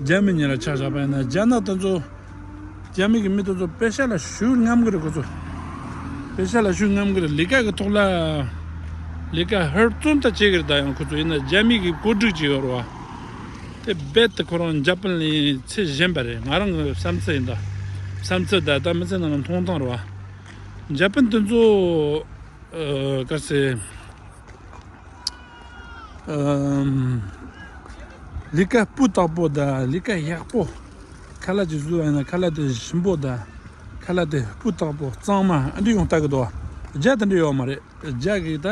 རྒྱ་མི་གཉིས་ལ་ཆ་བཞག་པ་ཡིན་ན་རྒྱ་ནག་དེ་ཚོ་རྒྱ་མི་གི་མི་དེ་ཚོ་དཔེ་ཆ་ལ་ཞུགས་རྔམ་གི་རེད་ཁོ་ཚོ་དཔེ་ཆ་ལ་ཞུགས་རྔམ་གི་རེད་ལི་ཀ་གི་ཐོག་ལ་ལི་ཀ་ཧོལ་བཙོན་ལྟ་བྱེད་གི་རེད་ད་ཡང་ཁོ་ཚོ་ཡིན་ན་རྒྱ་མི་གི་བཀོད་སྒྲིག་ཅིག་ཡོད་རེད་བ་དེ་རྦད་དེ་ཁོ་རང་འཇབ་པན་ལིན་ཚེ་བཞེངས་པ་རེད་ང་རང་གི་བསམ་ཚུལ་ཡིན་ད་བསམ་ཚུལ་ད་ད་མི་ཚེ་ནང་ལ་མཐོང་སྟངས་རེད་བ་འཇབ་པན་དེ་ཚོ་ག་ཚེ། ལི་ཀ་སྤུ་བཏགས་པོ་དང་ལི་ཀ་གཡག་པོ་ཁ་ལ་ཅིག་བཟོས་ཡང་ན་ཁ་ལ་དེ་ཞིམ་པོ་དང་ཁ་ལ་དེ་སྤུ་བཏགས་པོ་གཙང་མ་ཨ་འདྲི་ཡོང་བལྟ་གི་འདུག་བརྒྱ་དེ་འདྲ་ཡོད་མ་རེད་བརྒྱ་གིས་ད་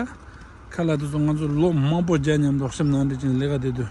ཁ་ལ་དེ་ཚོ་ང་ཚོ་ལོ་མང་པོ་བརྒྱ་ཉམས་དོགས་སེམས་ནང་འདྲི་ཅིང་ལི་ཀ་དེ་དུས་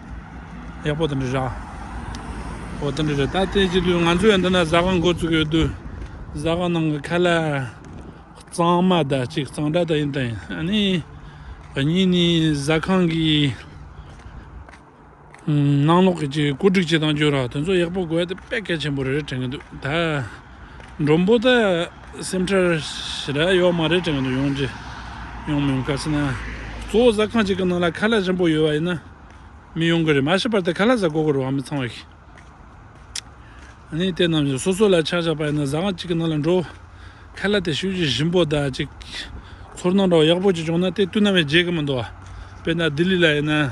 ཡག་པོ་དང་འདྲ་ར། ཨོ་དང་འདྲ་ར། ད་དེ་ཅི་དུས་ང་ཚོས་འདི་ན་བཟའ་སྒང་མགོ་བཙུགས་ཡོད་དུས། བཟའ་སྒང་ནང་གི་ཁ་ལ་གཙང་མ་དག་ཅིག་གཙང་སྦྲ་དག་ཡིན་དང་ཨ་ནི། གཉིས་ནི་བཟའ་ཁང་གི་ནང་ལོགས་ཀྱི་སྐོར་སྒྲིག་བྱེད་སྟངས་ཅུང་ར་དེ་ཚོ་ཡག་པོ་དགོས་ཏེ་དཔེ་གལ་ཆེན་པོ་རེ་རེ་དྲན་གྱི་འདུག་ད། མགྲོན་པོ་དག་སེམས་ཁྲལ་ཞེ་དྲག་ཡོད་མ་རེད་དྲན་གྱི་འདུག་ཡོང་རྒྱུ་ཡོང་མི་ཡོང་ག་ཚད་ན་གཙོ་བོ་ཟ་ཁང་གཅིག་གི་ནང་ལ་ཁ་ལག་ཆེན་པོ་ཡོད་པ་ཡིན་ན་མི་ཡོང་གི་རེད་མ་ཤི་བར་དུ་ཁ་ལག་ཟ་དགོས་ཀྱི་རེད་བ་མི་ཚང་བ་ཞིག་གནས་དེ་རྣམས་ཀྱི་སོ་སོ་ལ་ཆག་ཆག་པ་ཡིན་ན་ཟ་ཁང་གཅིག་གི་ནང་ལ་འགྲོ་ཁ་ལག་དེ་ཤུགས་ཀྱིས་ཞིམ་པོ་དག་ཅིག་ཚོར་སྣང་འདྲ་བ་ཡག་པོ་ཅིག་བྱུང་ན་དེ་བསྟུན་ནམ་ཡང་བརྗེད་ཀྱི་མི་འདུག་བ་དཔེར་ན་ལྡི་ལི་ལ་ཡིན་ན།